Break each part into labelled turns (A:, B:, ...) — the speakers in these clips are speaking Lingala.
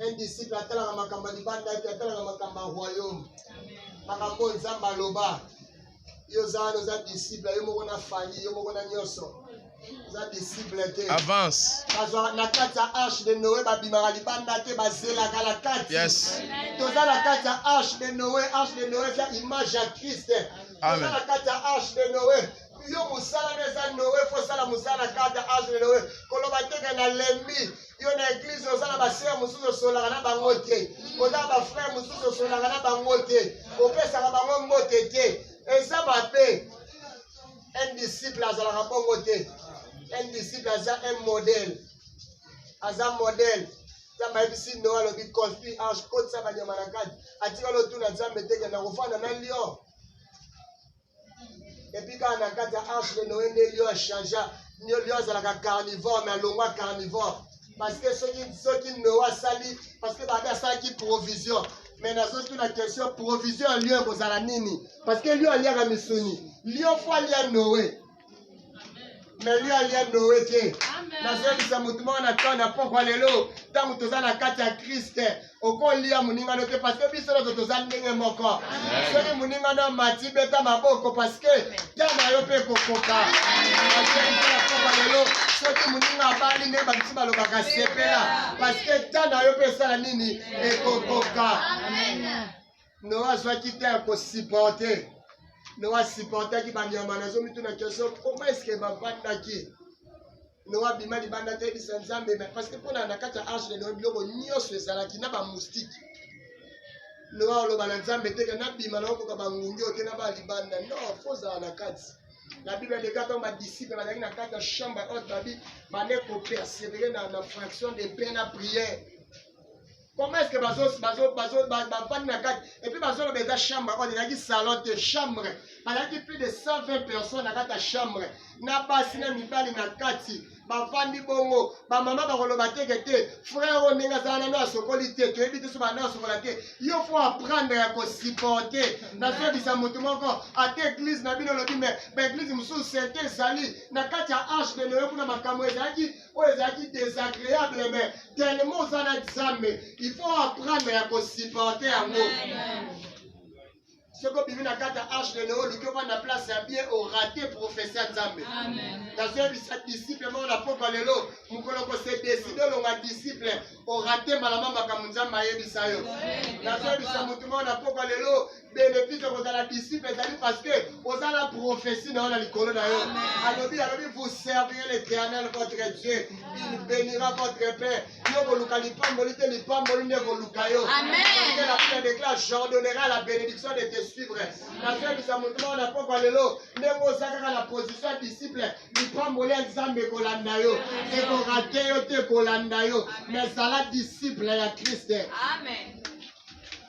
A: Un disciple atalaka makambo ya libanda ete atalaka makambo ya royaume. Makambo oyo Nzambe aloba. Yo oza wana oza disciple yo moko na fali yo moko na nyonso. Oza disciple te. Avance. Bazwa
B: na kati ya
A: arche de Noé babimaka libanda te bazelaka na kati. Yes. Toza
B: na kati ya
A: arche de Noé, arche de Noé eza image ya Christ. Toza na kati
B: ya arche
A: de Noé. yo mosala na eza noe fo osala mosala na kata age na noe koloba teke na lembi yo na eglize oza na basere mosusu osolaka na bango te oza na bafrere mosusu osolaka na bango te opesaka bango mbote te eza mabe un disciple azalaka bongo te un disciple aza un modèle aza modèle nzambe ayebisi noe alobi confi ange kotisa banyama na kati atikali otuna nzambe teke na kofanda na lion epi kaka na kati ya arche de noe nde lio achangea lio azalaka carnivore me alongwa carnivore parceke soki soki noe asali parceke babi asalaki provision me nazotuna question provision ya lio ekozala nini parceke lio aliaka misuni lio fo alia noe meli alia noe te nazongisa motu moko na ntango na mpokwa lelo ntango toza na kati ya kriste okolia moningano te parceke biso nyonso toza ndenge moko soki moningano amati beta maboko parceke ta na yo mpe ekokoka mpokwa lelo soki moninga abali nde babisu balobaka sepela parceke ta na yo mpe esala nini ekokoka Noa azwaki te ya kosiporte. Noa asiportaki banyama. Nazomituna kestion, koma eske bavandaki noa bima libanda te yebisa nzambe me parce que mpona na kati ya arche de noa biloko nyonso ezalaki na bamoustike noa oloba na nzambe teke nabima naokoka bangungi oyo te na baa libanda no fo ozala na kati la bible eleka ntango badisiple bazalaki na kati ya chambre haute babi bande kopersevere na, na fraction de pain na prière Comment est-ce que bazo bazo bazo bafandi na kati et puis bazo loba eza chambre oyo ezalaki salon te chambre bazalaki plus de 120 personnes na kati ya chambre na basi na mibali na kati bafandi bongo bamama bakoloba teke te frère oyo ndenge azala nano asokoli te toyebi te so banda asokola te yo fo aprendre ya kosupporte nazobisa motu moko ata eglize na bino olobi me baeglize mosusu sente ezali na kati ya arche de noyo kuna makambo ezalaki oyo ezalaki desagreable me tellement oza na nzambe il faut apprendre ya kosupporte yango soki obimi na kati ya arche de neo oluki ovanda place ya bien orate profesi ya nzambe nazoyebisa disiple moko na pokwa lelo mokolo kose deside olonga disiple orate malama makambo nzambe ayebisa yo nazoyebisa motu moko na pokwa lelo benefika kozala disciple ezali parce que oza na prophetie na yo na likolo na yo alobi alobi vous servirez l'éternel votre dieu il bénira votre père yo koluka lipamboli te lipamboli nde koluka yo la bible déclare j'ordonnerai à la bénédiction de te suivre nazoyebisa moto moko na pokwa lelo ndenge oza kaka na position ya disciple lipamboli ya nzambe ekolanda yo ekorate yo te ekolanda yo mais zala disciple ya kriste amen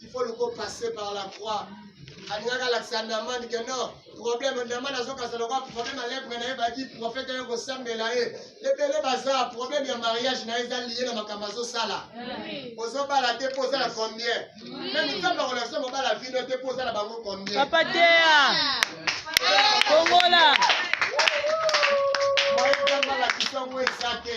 A: il faut le go passer par la croix alingaka alakisa namani ke no problème namani azokasa lokwa problème alepre na ye baki profete ye kosambela ye ebele baza problème ya mariage na ye eza liye na makambo azosala ozobala te mpo oza na combien meme nzambe akolakisa mobala vino te mpo oza na bango combien papa tea
C: kongola
A: moyebi nzambe alakisa yango eza te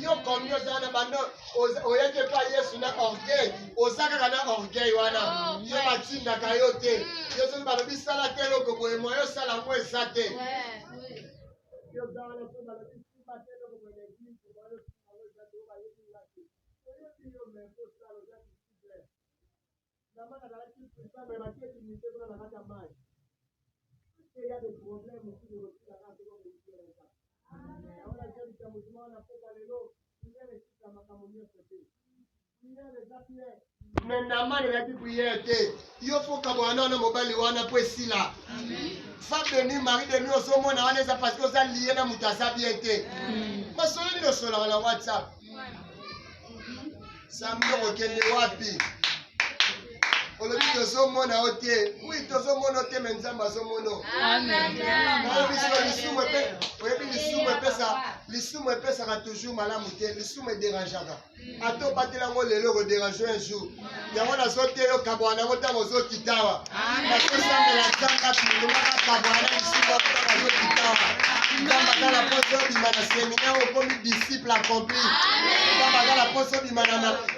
A: yo komi ozala na bando oyaki epa yesu na orgueil oza kaka na orgueil wana oh, yo batindaka yo te hmm. yo soki balobi sala te eloko boye moye osala yango eza te namani nayaki priere te yo fokabwana wana mobali wana mpo esila femme de nuit mari de nuit ozomona wana eza parce que oza lie na moto aza bien te masolo nini osolaka na whatsapp Samedi okokende wapi? olobi tozomona yo te wi tozomona yo te me nzambe azomono oyebi siko lisumu oyebi lisumu epesa lisumu epesaka toujours malamu te lisumu ederangeaka ata obatela yango lelo ekoderange un jour yango nazoteya yo kabwana yango ntango ozokitawa nakosambela nzambe atundumaka kabwana lisusu ntango azokitawa nzambe aza na mposa obima na seminaire okomi disciple accompli nzambe aza na mposa obima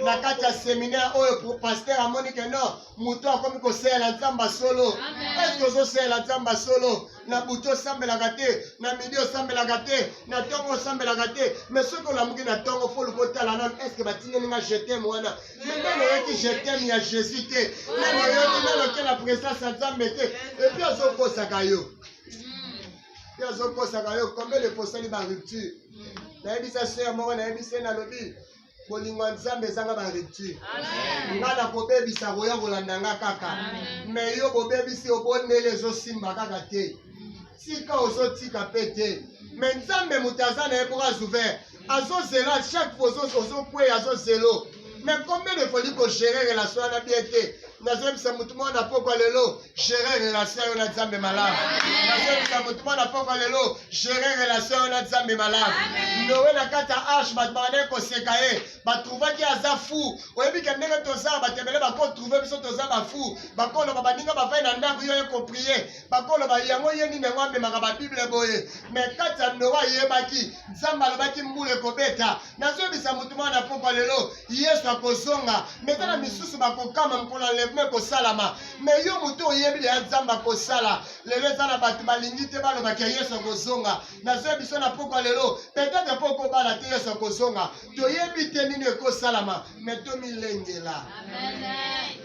A: na kati ya seminaire oyo paster amoni ke no moto akomi kosalela nzambe solo eske ozosalela nzambe solo na butu osambelaka te na midi osambelaka te na ntongo osambelaka te mais soki olamuki na ntongo foluka otala nano eske batindeli nga jetem wana Nana nayoki je t'aime ya Jesus te. Nana nayoki nano kela presence ya Nzambe te. Et puis azokosaka yo. Puis azokosaka yo combien de fois osali ba rupture. Nayebisa sœur moko nayebisa ye nalobi bolingo ya nzambe ezanga barupture nga na kobebisa koya kolanda nga kaka me yo bobebisi obondeli ezosimba kaka te tika ozotika mpe te me nzambe moto aza na ye mpo azouvert azo zela chaque fois ozo kweya azo zelo mais combien de fois li ko gérer relation wana bien te nazoyebisa motu moko na pokwa lelo gérer relation yo na nzambe malamu nazoyebisa motu moko na pokwa lelo gérer relation yo na nzambe malamu nowe na kati ya arche bato bakandaki koseka ye batrouvaki aza fou oyebi ke ndenge toza bato ebele bakotrouve biso toza bafou bakoloba baninga bavai na ndako yo ye koprie bakoloba yango ye nini yango amemaka babible boye me kati ya noa ayebaki nzambe alobaki mbula ekobeta nazoyebisa motu mwana na popa lelo yesu akozonga me tala misusu bakokama mokolo enlèvement ekosalama me yo motu oyebi leya nzambe akosala lelo eza na bato balingi te balobaki ya yesu akozonga nazoyebisa na popa lelo petete mpo okobala te yesu akozonga toyebi te nini ekosalama me tomilengela Amen.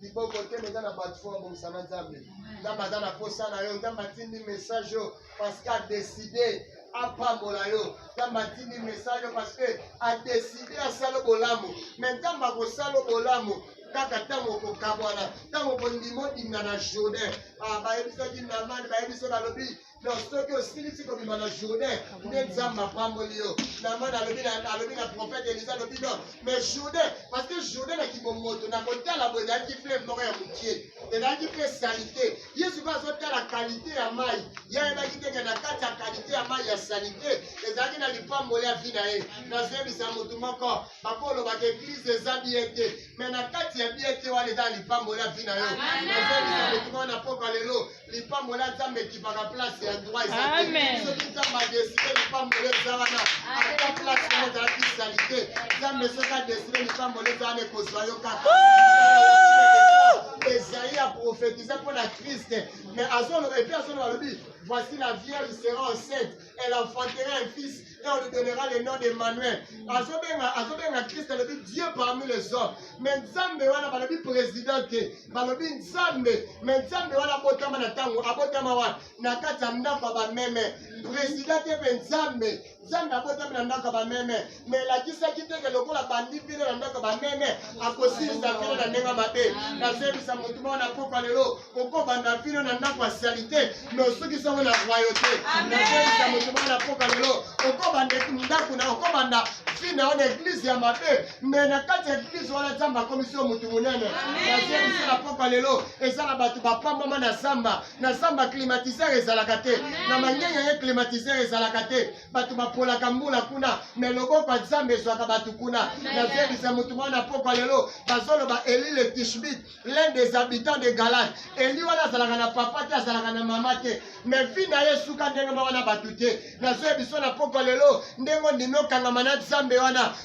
A: liboko te meza na bato fo babongisa na nzambe nzambe aza na mposa na yo nzambe atindi message oyo parce que adeside apambola yo nzambe atindi message oyo parce que adeside asala bolamu me nzambe akosala bolamu kaka ntango okokabwana ntango kondima odimna na jourdain ah, bayebisaki namani bayebiso balobi donc soki osilisi kobima na jourdain nde nzambe apamboli yo namana alobi na profete elisa alobi no mais jourdain parce que jourdain na kibomoto na kotala boye ezalaki fleuve moko ya mokie ezalaki mpe salite yesu mpe azotala kalite ya mai ye ayebaki teke na kati ya kalite ya mai ya salite ezalaki na lipamboli ya vi na ye nazoyebisa motu moko bakolobaka eglize eza biye te mai na kati ya biye te wana eza lipamboli ya vi na yo nazoyebisa motu moko na pokwa lelo lipambola nzambe ekipaka place ya droit ezate soki nzambe adeside lipambola eza wana ata place yango ezalaki salite nzambe soki adeside lipambola eza wana ekozwa yo kaka ezali ya profetize mpo na kriste mais azoloba epuis azoloba alobi voici la vierge sera enceinte elle enfantera un fils et on lui donnera le nom d'Emmanuel. Azobenga, azobenga Christ, elle dit Dieu parmi les hommes. Mais Nzambe wana balobi président te, balobi Nzambe, mais Nzambe wana abotama na tango, abotama wana na kati ya ndako ya bameme. Président te mpe Nzambe, Nzambe abotami na ndako ya bameme. me elakisaki te ke lokola bandi mpine na ndako bameme akosilisa vino na ndenge mabe nazebisa motu moko na koka lelo okobanda vino na ndako ya salite me osukisi yango na royo te nazebisa motu moko na koka lelo okobanda ndako na okobanda fi na yo na eglize ya mabe me na kati ya eglize wana nzambe akomisi yo motu monene nazebisa na koka lelo eza na bato bapambama na zamba na zamba climatiseur ezalaka te na mangenya ye climatiseur ezalaka te bato bapolaka mbula kuna me loboko ya nzambe ezwaka bato kuna nazebisa motu mwana pokwa lelo bazoloba eli le tishbit l'un des habitants de galade eli wana azalaka na papa te azalaka na mama te me vi na ye esuka ndenge moko na bato te nazoyebiso na pokwa lelo ndenge ondimi okangama na nzambe wana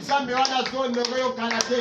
A: Nzambe wana azonongo yo kala te.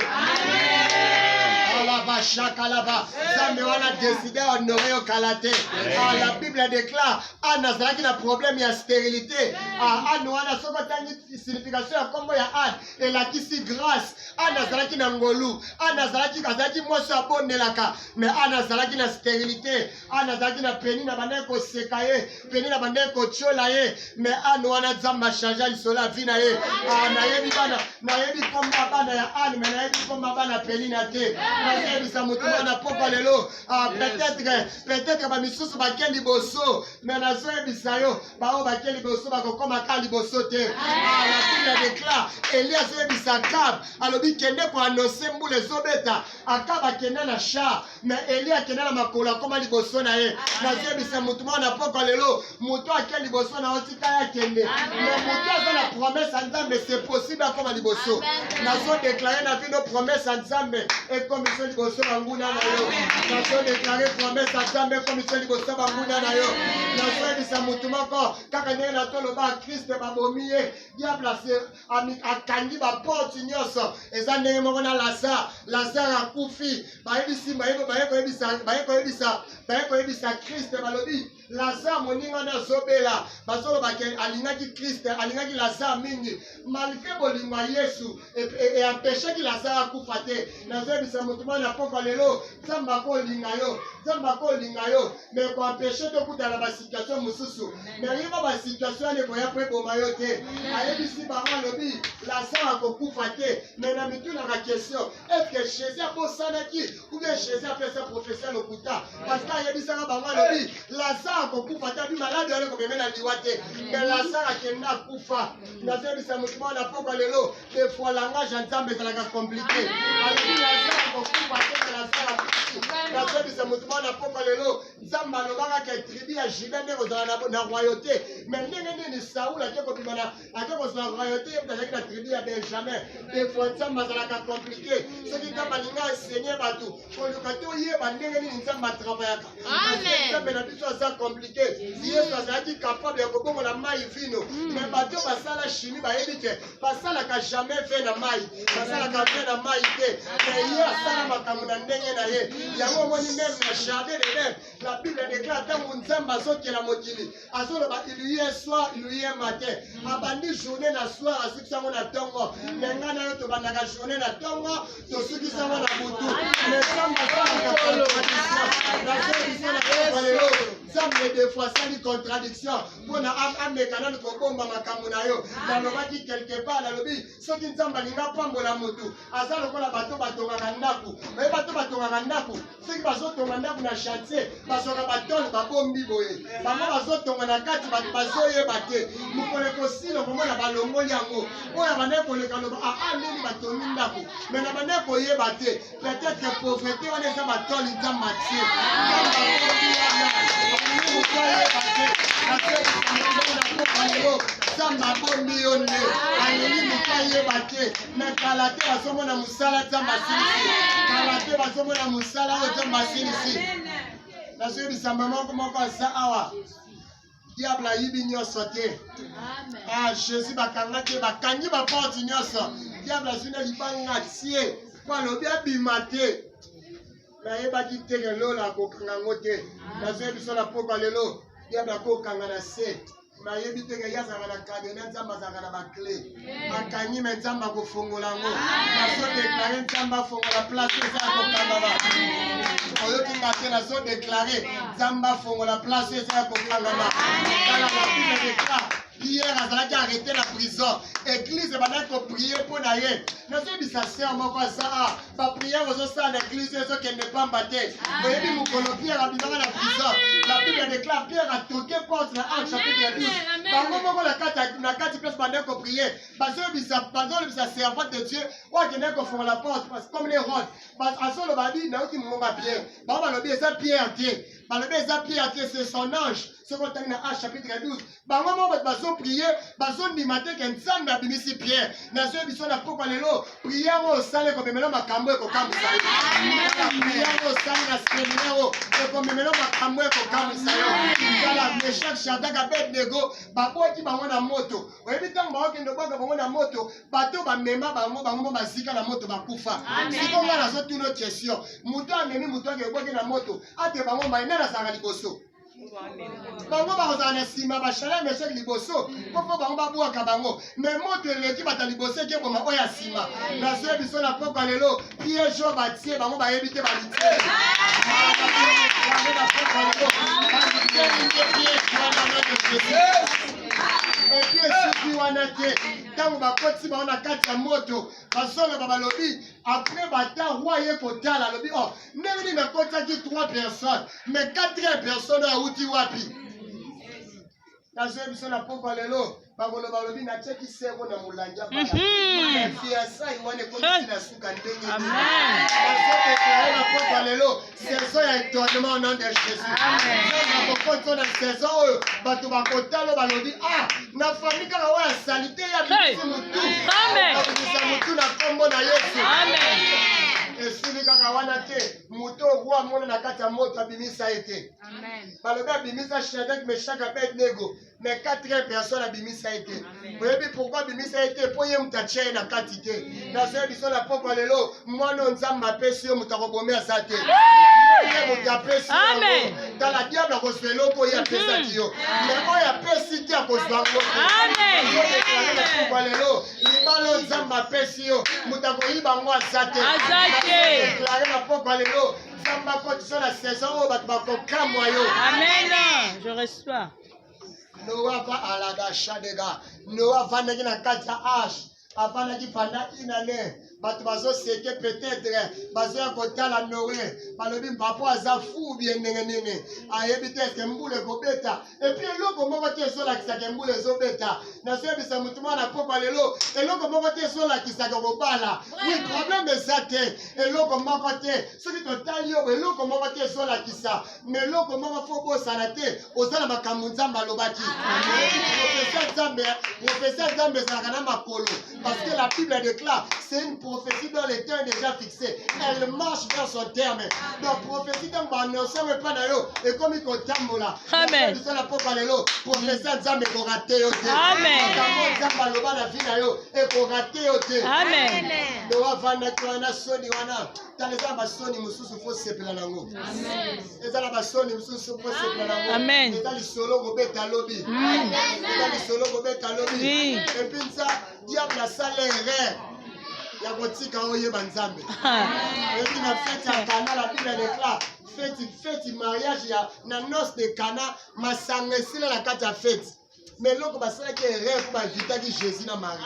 A: Alaba shakalaba. Nzambe wana deside honore yo kala te. Ah, la Bible déclare Anne azalaki na problème ya stérilité. Ah, Anne wana soki otangi signification ya nkombo ya Anne elakisi grâce. Anne azalaki na ngolu. Anne azalaki azalaki mwasi abondelaka, mais Anne azalaki na stérilité. ana nazalaki na peni na bandaki koseka ye peni na bandaki kotyola ye me ane wana nzambe achange lisolo ya vi na ye ah, nayebi bana nayebi kombo ya bana ya ane me nayebi kombo ya bana peni na te nazeyebisa motu mwana pokwa lelo ah, peut-être peut-être bamisusu bake liboso me nazoyebisa yo baoyo bake liboso bakokoma ka liboso te ah, la fille ya decla elie azoyebisa kab alobi kende koanonse mbula ezobeta akab akenda na char me eli akenda na makolo akoma liboso na ye nazebisa motu moko na pokwa lelo motu ake liboso na otika ye akende me motu aza na promese ya nzambe se possible akoma liboso nazodeklare na bino promese ya nzambe ekomiso liboso banguna na yo nazodeklare promese ya nzambe ekomiso liboso banguna na yo nazoyebisa motu moko kaka ndenge natoloba kristo babomi ye diable akangi baporte nyonso eza ndenge moko na lazare lazare akufi bayebisi baye koyebisa kriste balobi lazare moninga nde azobela bazoloba ke alingaki kriste alingaki lazare mingi malgre bolingo ya yesu eampeshaki e, e lazare akufa te nazoyebisa moto mwana pokwa lelo nzambe akolinga yo nzambe akolinga yo me koempeshe te okutana ba situation mosusu me yeba ba situation ane boya mpo eboma yo te ayebisi bango alobi lasan akokufa te me na mitunaka question eske jésus abosanaki ubie jésus apesa profesia lokuta parce que ayebisaka bango alobi lasan akokufa te abi maladi wana ekomeme na liwa te me lasan akenda akufa nazoyebisa motu mwana pokwa lelo des fois langage ya nzambe ezalaka komplike alobi lazare kokufa te lazare akufi nazobisa moto mwana mpoko lelo nzambe alobaka ke tribu ya juda nde kozala na royauté me ndenge nini saul ake kobima na ake kozwa royauté ye moto azalaki na tribu ya benjamin des fois nzambe azalaka komplike soki nzambe alinga enseigner bato koluka te oyeba ndenge nini nzambe atravayaka nzambe na biso aza komplike yesu azalaki kapable ya kobongola mai vino hmm. me bato basala shimi bayebi te basalaka jamais ve na mai basalaka ve na mai te me ye asala makambo na ndenge na ye hmm. yango omoni meme na jardin de leve na bible deklare ntango nzambe azokela mokili azoloba iluye soir iluye mate mm. abandi journée na soir asukisi yango na ntongo mm. me ngai nayo tobandaka journée na ntongo tosukisi yango na butu nzambe defoi asali contradiction mpo na ameka nani kobomba makambo na yo ah. nalobaki quelque part nalobi soki nzambe alinga apambola motu aza lokola bato batongaka ndako oye bato batongaka ndako soki bazotonga ndako na chantier bazwaka batole babombi boye bango bazotonga na kati bato bazoyeba te mokolo ekosila okomona balongoli yango oyo abandaki koleka loba aa ah, ah, ndeni batongi ndako me na bandaki koyeba te peut-être pauvrete wana eza batole nza matie nzambe abombi yo nde alingi moto ayeba te me kala te bazomona mosala nzambe asilisi kala te bazomona mosala oyo nzambe asilisi nazoyebisa mama moko moko aza awa diable ayibi nyonso te ah jésus bakanga te bakangi baporte nyonso diable azwi na libanga tie mpo alobi abima te nayebaki te lelo nakokanga yango te nazoyebi biso na pokwa lelo diable akokanga na se nayebi te ye azalaka na kadena nzambe azalaka na baclé akangi me nzambe akofongola yango nazodeklare nzambe afongola place eza ya kokangama oyoki nga te nazodeklare nzambe afongola place eza ya kokangama tala na bible dekla pierre azalaki arrete na prison eglise ebandaki koprie mpo na ye nazoyebisa ser moko aza bapriere ozosala na eglise ezokende pamba te oyebi mokolo pierre abimaka na prison la bible déclare pierre atoke porte na acte chapitre ya 12 bango moko na kati place bandaki koprie bazolobisa servante de dieu oyo akendaki kofongola porte parce comme les rode azoloba abi nauti mongonga pierre bango balobi eza pierre te balobi eza pierre te c'est son ange soki otangi na acte chapitre ya 12 bango moko bato bazoprie bazondima te ke nzambe abimisi pierre nazoye biso na pokwa lelo priere oyo osali ekomemela makambo ekokamwisa yo priere oyo osali na seminaire oyo ekomemela makambo ekokamwisa yo tala meshak shadak abednego babwaki bango na moto oyebi ntango baokende obwaka bango na moto bato bamema bango bango mo bazika na moto bakufa siko ngai nazotuna question moto amemi moto ake ebwaki na moto ate bango mai nani azalaka liboso bango bakozala na nsima bashala meshek liboso mpo mpo bango babwaka bango me moto eleki bata liboso ekeboma oyo ya nsima nazwi biso na pokwa lelo piege oyo batie bango bayebi te balitie epi esuki wana te ntango bakoti bango na kati ya moto bazoloba balobi apres bata roi ye kotala alobi o oh, ndenge nini bakotaki trois personnes mais quatrième personne oyo awuti wapi nazoyebi biso na pokwa lelo bakoloba lobi natyeki seko na molangi ya fiasai mhm. wana ekomisi na suka ndenge nazodeklare na pokwa lelo saison ya étonnement au nom de jésus nakokoti na saison oyo bato bakotalo balobi ah na fami kaka oyo ya salite ya bisi motu akabimisa motu na nkombo na yesu esili kaka wana te moto oyo amona na kati ya moto abimisa ye te balobi abimisa shadrak meshak abednego me quatrième personne abimisa ye te oyebi pourkui abimisa ye te mpo ye moto atya ye na kati te nazoya biso na pokwa lelo mwana oyo nzambe apesi yo moto akobome aza te ye moto apesi yango tala diable akozwa eloko oyo apesaki hmm. yo me oyo apesi te akozwa ngo na pokwa lelo libala oyo nzambe apesi yo moto akoyiba ngo aza te deklare na pokwa lelo nzambe akotisa na saison oyo bato bakokamwa yo amen je
C: reçois noa
A: va alada shadega noa avandaki na kati ya age afandaki pendant une année bato bazoseke peut-être bazoya kotala noe balobi mpapo aza fou bie ndenge nini ayebi te eke mbula ekobeta epuis eloko moko te ezolakisaka mbula ezobeta nazoyebisa motu mwana pokwa lelo eloko moko te ezolakisaka kobala wi problème eza te eloko moko te soki totali yo eloko moko te ezolakisa me eloko moko fo bosana te oza na makambo nzambe alobaki profesa nzambe profesa nzambe ezalaka na makolo parce que la bible déclare c'est une prophétie dans le temps déjà fixé elle marche vers son terme donc prophétie ntango baannonsango epai na yo ekomi kotambola bisala mpoka
C: lelo
A: profesa nzambe ekorate yo te makambo nzambe
C: aloba
A: na vi na yo ekorate yo te
C: nowavandaki
A: wana soni wana tala eza na basoni mosusu mpo sepela nango eza na basoni mosusu mpo sepela nango eza lisolo
C: kobeta
A: lobi eza lisolo kobeta lobi epi nsa diable asala erreur ya kotika oyeba nzambe epi na fete ya kana la biblia declare feti feti mariage ya na noce de kana masanga esila na kati ya feti mais eloko basalaki erreur mpo bavitaki jésus na marie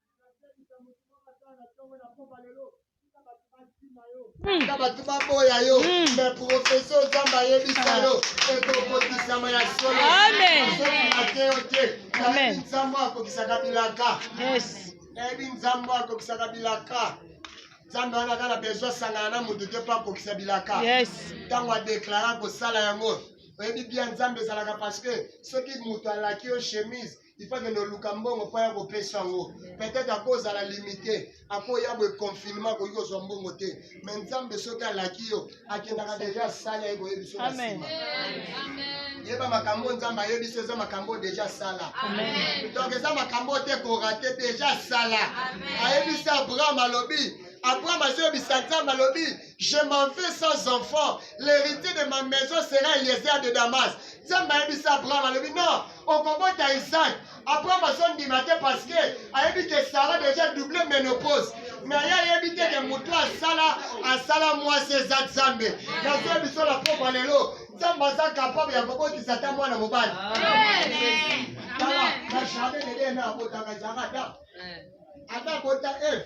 A: tika bato baboya yo me profesi ozamba ayebisa yo ekokokisama ya solo ake yo te nayebi nzambo akokisaka bilaka nayebi nzambo akokisaka bilaka nzambe wana kaka na bezo asangana na moto te mpo akokisa bilaka ntango adeklara kosala yango oyebi bia nzambe ezalaka parce que soki moto alaki yo chemise il faut akende oluka mbongo mpo ya kopesa yango peut-être akozala limite akoya boye confinement akoki kozwa mbongo te me nzambe soki alaki yo akendaka deja asala ye koyebi so na nsima yeba makambo nzambe ayebi so eza makambo deja asala donc eza makambo te korate deja asala ayebisi abraham alobi abraham azoyebisa nzambe alobi je m'en vais sans enfant l'héritier de ma maison sera eliezer de damas nzambe ayebisi abraham alobi non okobota isaac abraham azondima te parce que ayebi ke sara déjà double ménopause na ye ayebi te ke motu asala asala mwasi eza nzambe nazoya biso na pokwa lelo nzambe aza kapable ya kobotisa ata mwana mobali tala na jardin de dena abotaka jarada ata abota eve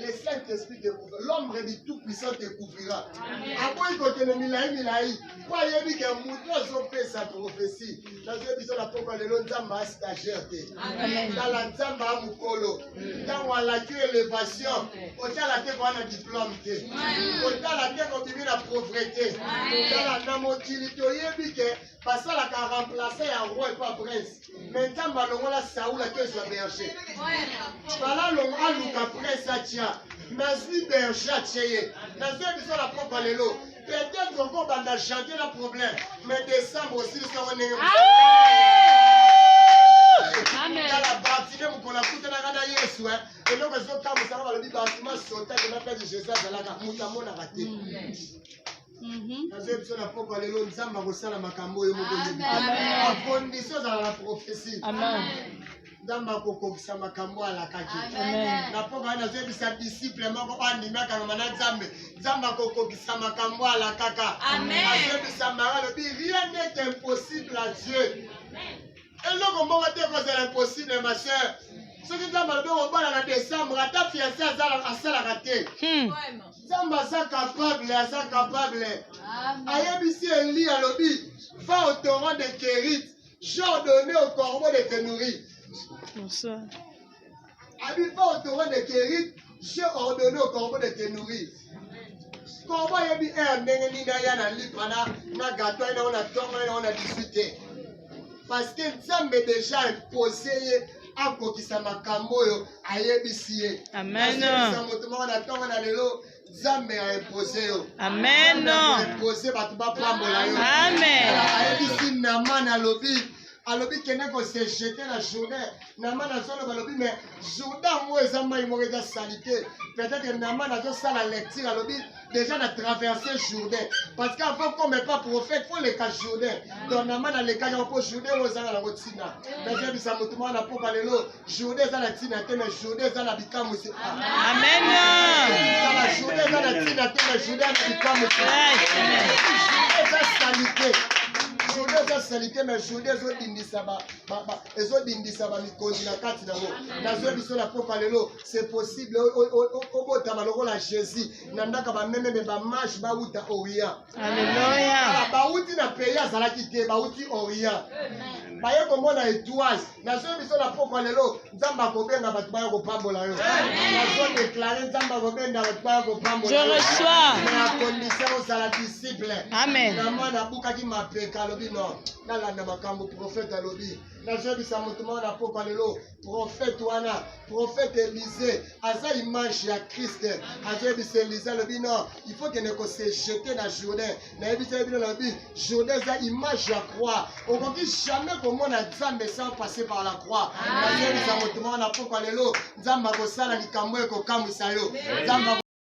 A: le Saint-Esprit te couvrira. L'homme du Tout-Puissant te couvrira. Aboyi kokende milai milai mpo ayebi ke moto azopesa profesi nazoye biso na pokwa lelo nzambe a stagiaire te tala nzambe a mokolo ntango alaki elevation kotala te koa na diplome te kotala te kobimi na pauvrete tala na mokili toyebi ke basalaka remplace ya roi pa prince me nzambe alongola saul ake ezwa berger bala alongo aluka prese atya nazwi berger atye ye nazwi biso na propre lelo peut-être okobanda janvier na problème mais décembre osilisa ngo ndenge tala batime mokolo akutanaka na yesu eh. eloko ezokamwisaka balobi batime asotaki na pese jésus azalaka moto amonaka te mm. Mhm. nazoyebi biso na pokwa lelo nzambe akosala makambo oyo moko akondisi ozala na profesi nzambe akokokisa makambo alakaki na pokwa nazoyebisa disiple moko oyo andimi akangama na nzambe nzambe akokokisa makambo alakaka azoyebisa mara alobi rien n'est impossible à dieu eloko moko te ekozala impossible ma soeur soki nzambe alobi okobala na décembre ata fiance asalaka te hmm. nzambe aza capable aza capable ayebisi eli alobi va au torrent de kerit j'ordonne au corbeau de te nourrir Abi pas au torrent de Kerit, j'ai ordonné au corbeau de te nourrir. Corbeau ayebi heure ndenge nini aya na lipa na na gato aye nango na tongo aye nango na 18 te. Parce que Nzambe déjà impose ye akokisa makambo oyo ayebisi ye. Amen. Azongisa moto moko na tongo na lelo nzambe a impose yo amen impose bato bapambola yo amen ayebisi naman alobi alobi kende kose jete na jourdain naman azoloba alobi me jourdain yango eza mai moko eza salite peut-être naman azosala lecture alobi déjà na traverse jourdain parce que avant comme epa prophète fo leka jourdain donc naman alekaki yango mpo jourdain oyo ezanga nango ntina nazobisa motu mwana na mpoka lelo Journée eza na tina te mais journée eza na bikamwisi. Amen. Kala journée eza na tina te mais journée na bikamwisi. Journée eza salite. Journée eza salite mais journée ezo dindisa ba ba ba ezo dindisa ba mikonzi na kati na ngo. Nazo biso na popa lelo c'est possible obotama lokola Jésus. Nandaka ba meme ba marche ba uta oya. Aleluya. Bauti na pays azalaki te, bauti Orient. Baye komona etoile. Nazoyi biso na pokwa lelo, Nzambe akobenga bato baya kopambola yo. Nazo deklare Nzambe akobenga bato baya kopambola yo. Je reçois. Na condition ozala disciple. Amen. Na mwana abukaki mapeka alobi non. Nalanda makambo prophète alobi. Nazoyebisa moto moko na pokwa lelo, prophète wana prophète Élisée aza image ya Christ azoyebisa Élisée alobi non il faut kende ko se jeter na Jourdain nayebisaki bino nalobi Jourdain eza image ya croix okoki jamais komona Nzambe sans passer par la croix nazoyebisa moto moko na pokwa lelo Nzambe akosala likambo ekokamwisa yo Nzambe